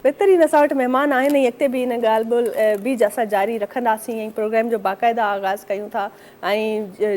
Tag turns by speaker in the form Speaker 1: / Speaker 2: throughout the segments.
Speaker 1: بهترين اسان وٽ مهمان آهن ۽ اڳتي به ان ڳالهه ٻولهه بيج اسان جاري رکنداسين ۽ پروگرام جو باقاعده آغاز ڪيون ٿا ۽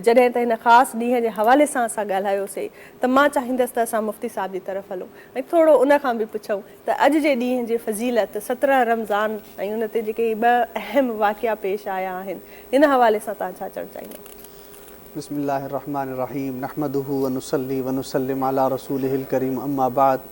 Speaker 1: جڏهن ته هن خاص ڏينهن جي حوالي سان اسان ڳالهايوسي ته مان چاهيندس ته اسان مفتي صاحب جي طرف هلون ۽ ٿورو ان کان به پڇون ته اڄ جي ڏينهن جي فضيلت سترهن رمضان ۽ ان تي جيڪي هي ٻه اهم واقعا پيش آيا آهن ان حوالي سان تهان ڇا چوڻ چاهيندا. بسم الله الرحمٰن الرحيم
Speaker 2: نحمده ونصلي ونسلم علي رسوله الڪريم اما بعد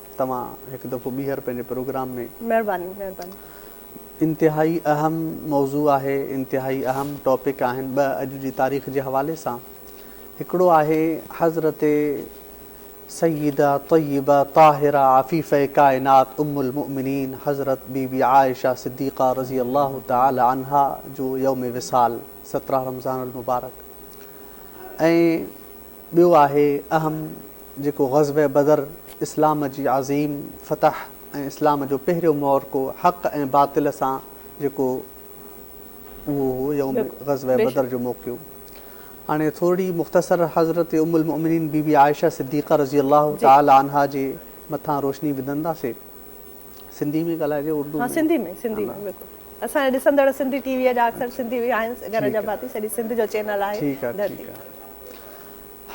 Speaker 2: توهان هڪ دفعو ٻيهر پنهنجي پروگرام ۾. مهرباني
Speaker 1: مهرباني. انتهائي
Speaker 2: اهم موضوع آهي انتهائي اهم ٽاپڪ آهن ٻه اڄ جي تاريخ جي حوالي سان هڪڙو آهي حضرت سيده طيبه طاهره عفيفه ڪائنات ام المؤمنين حضرت بي بي عائشه صديقه رضي الله تعالي عنها جو يوم وصال سترهن رمضان المبارڪ ۽ ٻيو آهي اهم جيڪو غزوه بدر اسلام جي عظيم فتح ۽ اسلام جو پهريون معرڪو حق ۽ باطل سان جيڪو اهو هو يوم غزوه بدر جو موقعو هاڻي ٿورڙي مختصر حضرت ام المؤمنين بي بي عائشه صديقه رضي الله تعالٰي عنها جي مٿان روشني وڌنداسين. سنڌي ۾ ڳالهائجي اردو ۾. ها سنڌي ۾ سنڌي ۾ بلڪل
Speaker 1: اسان جا ڏسندڙ سنڌي ٽي وي جا اڪثر سنڌي وي آهن گهر جا ڀاتي سڄي
Speaker 2: سنڌ جو چينل آهي ڌرتي.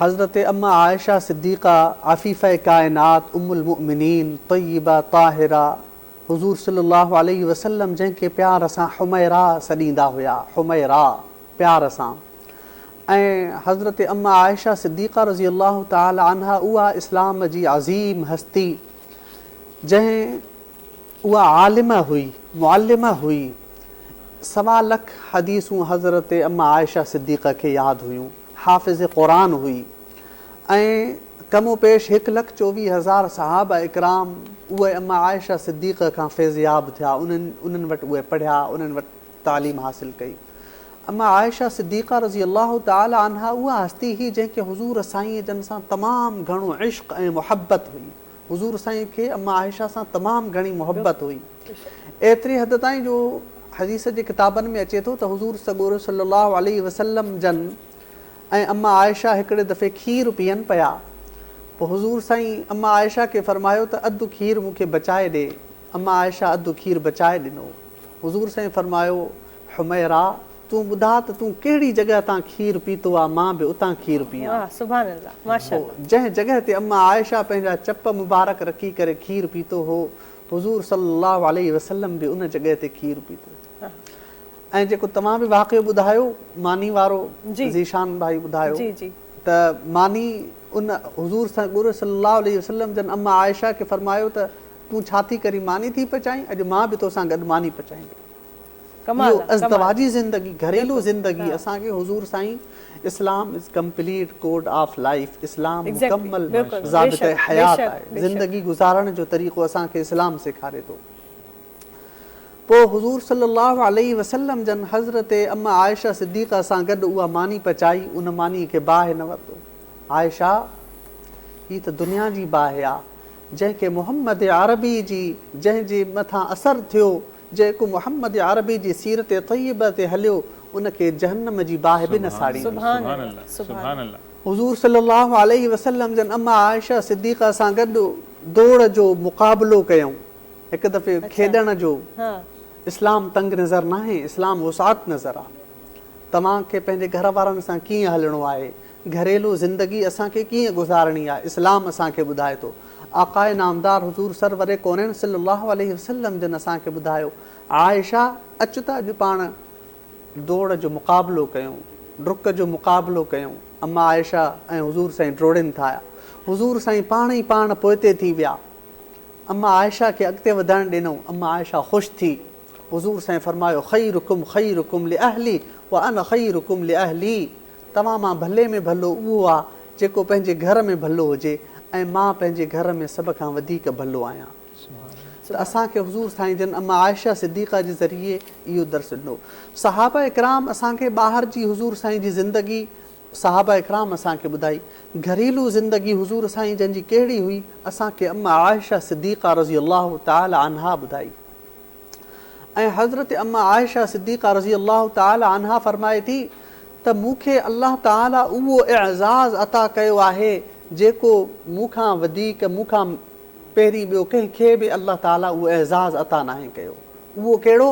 Speaker 2: حضرت ام عائشه صديقه عفيفه ڪائنات ام المؤمنين طيبه طاهره حضور صلي الله عليه وسلم جنهن کي پيار سان حميرا سڏيندا هيا حميرا پيار سان ۽ حضرت ام عائشه صديقه رضي الله تعالي عنها اها اسلام جي عظيم هستي جنهن اها عالمه هئي، معلمه هئي، سوا لک حديثون حضرت ام عائشه صديقه کي ياد هيون، حافظه قرآن هئي ۽ ڪم و پيش هڪ لک چوويهه هزار صحابه اڪرام اهي ام عائشه صديقه کان فيضياب ٿيا، انهن انهن وٽ اهي پڙهيا، انهن وٽ. تعليم حاصل ڪئي. اما عائشه صديقه رضي الله تعالٰي عنها اها هستي هئي جنهن کي حضور سائين جن سان تمام گهڻو عشق ۽ محبت هئي. حضور سائين کي اما عائشه سان تمام گهڻي محبت هئي. ايتري حد تائين جو حديث جي ڪتابن ۾ اچي ٿو ته حضور سڳورو صلّي اللّٰه عليه وسلّم جن ۽ اما عائشه هڪڙي دفعي کير پيئن پيا. پوء حضور سائين اما عائشه کي فرمايو ته اڌ کير مون کي بچائي ڏي. اما عائشه اڌ کير بچائي ڏنو. حضور صلعم فرمايو، حميرا! تون ٻڌاء ته تون ڪهڙي جڳهه تان کير پيتو آ مان به اتان کير پيان. واه سبحان الله ماشاء
Speaker 1: الله. پوء جنهن جڳهه تي اما
Speaker 2: عائشه پنهنجا چپ مبارڪ رکي ڪري کير پيتو هو، حضور صلي الله عليه وسلم به ان جڳهه تي کير پيتو. ۽ جيڪو توهان به واقعو ٻڌايو ماني وارو ذيشان ڀائي ٻڌايو ته ماني ان حضور سڳوري صلي الله عليه وسلم جن اما عائشه کي فرمايو ته تون ڇا ٿي ڪرين ماني ٿي پچائين اڄ مان به توسان گڏ ماني پچائيندي اهو ازدواجي زندگي گهريلو زندگي اسان کي حضور سائين Islam is complete code of life Islam مڪمل ضابطه حيات آهي زندگي گذارڻ جو طريقو اسان کي اسلام سيکاري ٿو پوء حضور صلي الله عليه وسلم جن حضرت ام عائشه صديقه سان گڏ اها ماني پچائي ان ماني کي باهه نه ورتو عائشه هي ته دنيا جي باهه آ جنهن کي محمد عربي جي جنهن جي مٿان اثر ٿيو، جيڪو محمد عربي جي سيرت طيبه تي هليو، ان کي جهنم جي باهه به نه ساڙي. سبحان الله سبحان الله. حضور صلي الله عليه وسلم جن امه عائشه صديقه سان گڏ دوڙ جو مقابلو ڪيائون هڪ دفعي کيڏڻ جو اسلام تنگ نظر ناهي اسلام وسعت نظر آ توهان کي پنهنجي گهر وارن سان ڪيئن هلڻو آهي گهريلو زندگي اسان کي ڪيئن گذارڻي آهي اسلام اسان کي ٻڌائي ٿو. آقاء نامدار حضور سرور ڪونين صلي الله عليه وسلم جن اسان کي ٻڌايو عائشه اچ ته اڄ پاڻ ڊوڙ جو مقابلو ڪيون ڊڪ جو مقابلو ڪيون اما عائشه ۽ حضور سائين ڊوڙين ٿايا حضور سائين پاڻ ئي پاڻ پوئتي ٿي ويا اما عائشه کي اڳتي وڌڻ ڏنون اما عائشه خوش ٿي حضور سائين فرمايو خيرڪم خيرڪم لاهلي وانا خيرڪم لاهلي توهان مان ڀلي ۾ ڀلو اهو آ جيڪو پنهنجي گهر ۾ ڀلو هجي ۽ مان پنهنجي گهر ۾ سڀ کان وڌيڪ ڀلو آهيان ته اسان کي حضور سائين جن ام عائشه صديقه جي ذريعي اهو درس ڏنو صحابه اڪرام اسان کي ٻاهر جي حضور سائين جي زندگي صحابه اڪرام اسان کي ٻڌائي گهريلو زندگي حضور سائين جن جي ڪهڙي هئي اسان کي ام عائشه صديقه رضي الله تعالٰي عنها ٻڌائي. ۽ حضرت امّه عائشه صديقه رضي الله تعالٰي عنها فرمائي ٿي ته مون کي الله تعالٰي اهو اعزاز عطا ڪيو آهي جيڪو مون کان وڌيڪ مون کان پهرين ٻيو ڪنهن کي به الله تعالٰي اهو اعزاز عطا ناهي ڪيو اهو ڪهڙو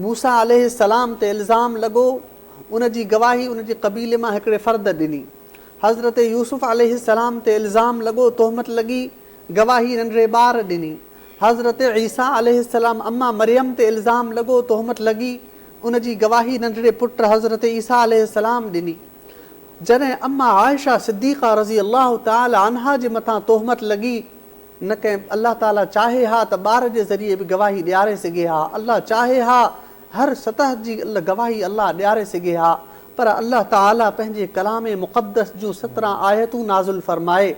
Speaker 2: موسٰي عليه السّلام تي الزام لڳو ان جي گواهي ان جي قبيلي مان هڪڙي فرد ڏني حضرت يوسف عليه السّلام تي الزام لڳو تهمت لڳي گواهي ننڍڙي ٻار ڏني حضرت عيسيٰ عليه السلام اما مريم تي الزام لڳو، تهمت لڳي، ان جي گواهي ننڍڙي پٽ حضرت عيسيٰ عليه السلام ڏني. جڏهن اما عائشه صديقه رضي الله تعالٰي عنها جي مٿان تهمت لڳي، نه ڪنهن الله تعالٰي چاهي ها ته ٻار جي ذريعي به گواهي ڏياري سگهي ها، الله چاهي ها هر سطح جي گواهي الله ڏياري سگهي ها، پر الله تعالٰي پنهنجي ڪلام مقدس جون سترهن آيتون نازل فرمائي.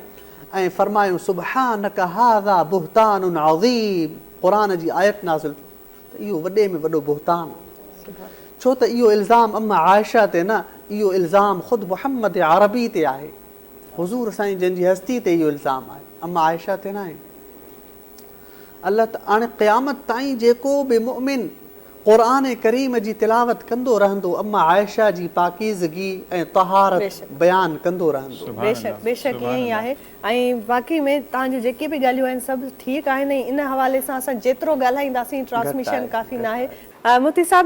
Speaker 2: ۽ فرمايو سبحانک هذا بهتان عظيم قرآن جي آيت نازل ٿي ته اهو وڏي ۾ وڏو بهتان ڇو ته اهو الزام ام عائشه تي نه اهو الزام خود محمد عربي تي آهي حضور سائين جن جي هستي تي اهو الزام آهي ام عائشه تي ناهي. الله ته هاڻي قيامت تائين جيڪو به مؤمن قرآن ڪريم جي تلاوت ڪندو رهندو ام عائشه جي پاڪيزگي ۽ طهارت بيشڪ. بيان ڪندو رهندو. سبحان بيشڪ الله بيشڪ سبحان
Speaker 1: ائين ئي الله. آهي ۽ واقعي ۾ توهان جون جيڪي به ڳالهيون آهن سڀ ٺيڪ آهن ۽ ان حوالي سان اسان جيترو ڳالهائينداسين گهٽ ٽرانسميشن آهي، ڪافي گهٽ ناهي. آهي. مفتي صاحب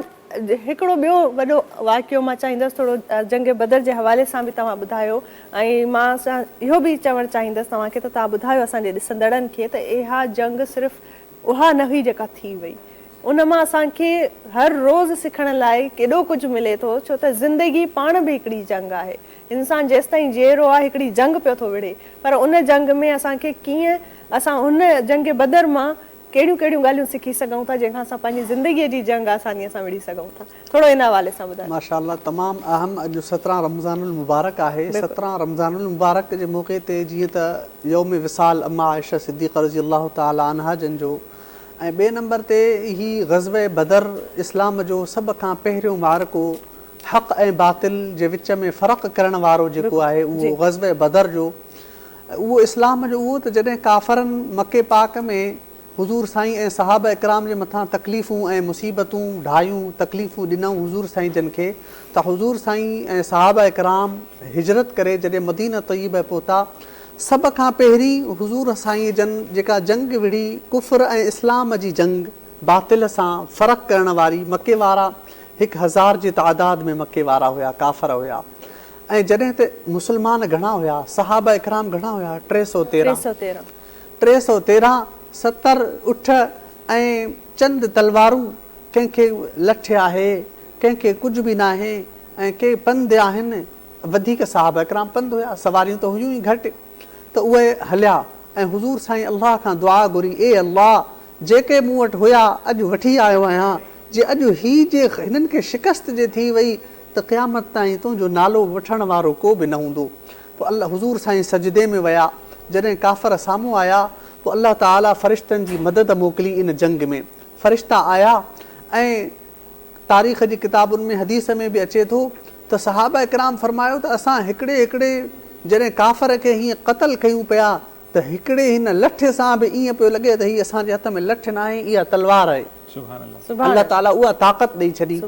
Speaker 1: هڪڙو ٻيو وڏو واقعو مان چاهيندس ٿورو جنگ بدر جي حوالي سان به توهان ٻڌايو ۽ مان اهو به چوڻ چاهيندس توهان کي ته توهان ٻڌايو اسان جي ڏسندڙن کي ته اها جنگ صرف اها نه هئي جيڪا ٿي وئي ان مان اسان کي هر روز سکڻ لاء ڪيڏو ڪجهه ملي ٿو ڇو ته زندگي پاڻ به هڪڙي جنگ آهي انسان جيستائين جيئرو آهي هڪڙي جنگ پيو ٿو وڙهي پر ان جنگ ۾ اسان کي ڪيئن اسان هن جنگ بدر مان ڪهڙيون ڪهڙيون ڳالهيون سکي سگهون ٿا جنهن کان اسان پنهنجي زندگي جي جنگ آساني سان وڙهي سگهون ٿا ٿورو ان حوالي سان ٻڌايو. ماشاء الله تمام
Speaker 2: اهم اڄ سترهن رمضان المبارڪ آهي سترهن رمضان المبارڪ جي موقعي تي جيئن ته يوم وصال اما عائشه صديقه رضي الله تعالٰي عنها جن جو ۽ ٻئي نمبر تي هي غزوه بدر اسلام جو سڀ کان پهريون معرڪو حق ۽ باطل جي وچ ۾ فرق ڪرڻ وارو جيڪو آهي اهو غزوه بدر جو اهو اسلام جو اهو ته جڏهن ڪافرن مڪي پاڪ ۾ حضور سائين ۽ صحابه اڪرام جي مٿان تڪليفون ۽ مصيبتون ڍايون، تڪليفون ڏنائون حضور سائين جن کي ته حضور سائين ۽ صحابه اڪرام هجرت ڪري جڏهن مدينه طيبه پهتا سڀ کان پهرين حضور سائين جن جيڪا جنگ وڙهي ڪفر ۽ اسلام جي جنگ باطل سان فرق ڪرڻ واري مڪي وارا هڪ هزار جي تعداد ۾ مڪي وارا هيا ڪافر هيا. ۽ جڏهن هتي مسلمان گهڻا هيا، صحابه اڪرام گهڻا هيا، ٽي سؤ تيرهن، ٽي سؤ تيرهن، ستر اٺ ۽ چند تلوارون، ڪنهن کي لٺ آهي، ڪنهن کي ڪجهه به ناهي ۽ ڪي پنڌ آهن، وڌيڪ صحابه اڪرام پنڌ هيا، سواريون ته هيون ئي گهٽ، ته اهي هليا ۽ حضور سائين الله کان دعا گهري، اي الله! جيڪي مون وٽ هيا، اڄ وٺي آيو آهيان، جي اڄ هي جي هنن کي شڪست جي ٿي وئي، ته قيامت تائين تنهنجو نالو وٺڻ وارو ڪو به نه هوندو پوء الله حضور سائين سجدي ۾ ويا جڏهن ڪافر سامهون آيا پوء الله تعالي فرشتن جي مدد موڪلي ان جنگ ۾ فرشتا آيا ۽ تاريخ جي ڪتابن ۾ حديث ۾ به اچي ٿو ته صحابه ڪرام فرمايو ته اسان هڪڙي هڪڙي جڏهن ڪافر کي هيئن قتل ڪيون پيا ته هڪڙي هن لٺ سان به ائين پيو لڳي ته هي اسان جي هٿ ۾ لٺ ناهي اها تلوار آهي. الله تعاليٰ اها طاقت ڏئي ڇڏي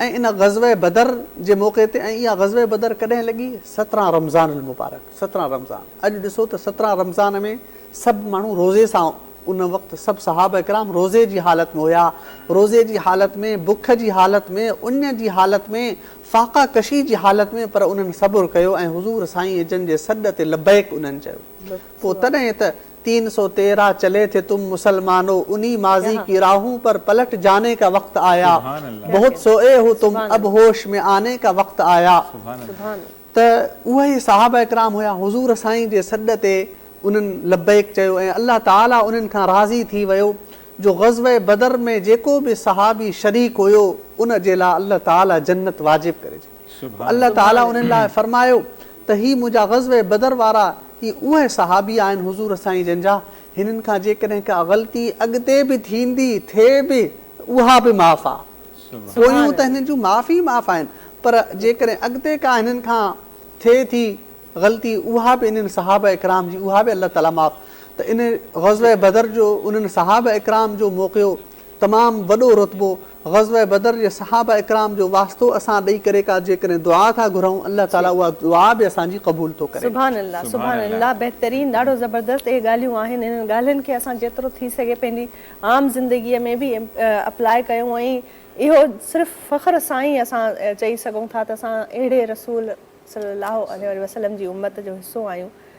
Speaker 2: ۽ ان غزوه بدر جي موقعي تي ۽ اها غزوه بدر ڪڏهن لڳي سترهن رمضان المبارڪ سترهن رمضان اڄ ڏسو ته سترهن رمضان ۾ سڀ ماڻهو روزي سان ان وقت سڀ صحابه ڪرام روزي جي حالت ۾ هيا روزي جي حالت ۾ بک جي حالت ۾ اڃ جي حالت ۾ فاقه ڪشي جي حالت ۾ پر انهن صبر ڪيو ۽ حضور سائين جن جي سڏ تي لبيڪ انهن چيو پوء تڏهن ته تين سو تيرا چلي ٿي تم مسلمانو انهي ماضي ڪي راهون پر پلٽ جاني ڪا وقت آيا بهت سوئي هو تم اب هوش ۾ آني ڪا وقت آيا ته اهي صحابه ڪرام هيا حضور سائين جي سڏ تي انهن لبيڪ چيو ۽ الله تعالي انهن کان راضي ٿي ويو جو غزوه بدر ۾ جيڪو به صحابي شريڪ هيو ان جي لاء الله تعالي جنت واجب ڪري ڇڏي پوء الله تعالي انهن لاء فرمايو ته هي منهنجا غزوه بدر وارا هي اهي صحابي آهن حضور سائين جن جا هنن کان جيڪڏهن ڪا غلطي اڳتي به ٿيندي ٿئي به ته اها به معاف آ پويون ته هنن جون معاف ئي معاف آهن پر جيڪڏهن اڳتي ڪا هنن کان ٿئي ٿي غلطي اها به انهن صحابه اڪرام جي اها به الله تعالي معاف ته ان غزوه بدر جو انهن صحابه اڪرام جو موقعو تمام وڏو رتبو غزوه بدر جي صحابه اڪرام جو واسطو اسان ڏئي ڪري ڪا جيڪڏهن دعا ٿا گهرئون الله تعالي اها دعا به اسان جي قبول ٿو ڪري. سبحان الله سبحان
Speaker 1: الله بهترين ڏاڍو زبردست اهي ڳالهيون آهن انهن ڳالهين کي اسان جيترو ٿي سگهي پنهنجي عام زندگي ۾ به اپلاء ڪيون ۽ اهو صرف فخر سان ئي اسان چئي سگهون ٿا ته اسان اهڙي رسول صلّي اللّٰه عليه وسلّم جي امّت جو حصّو آهيون،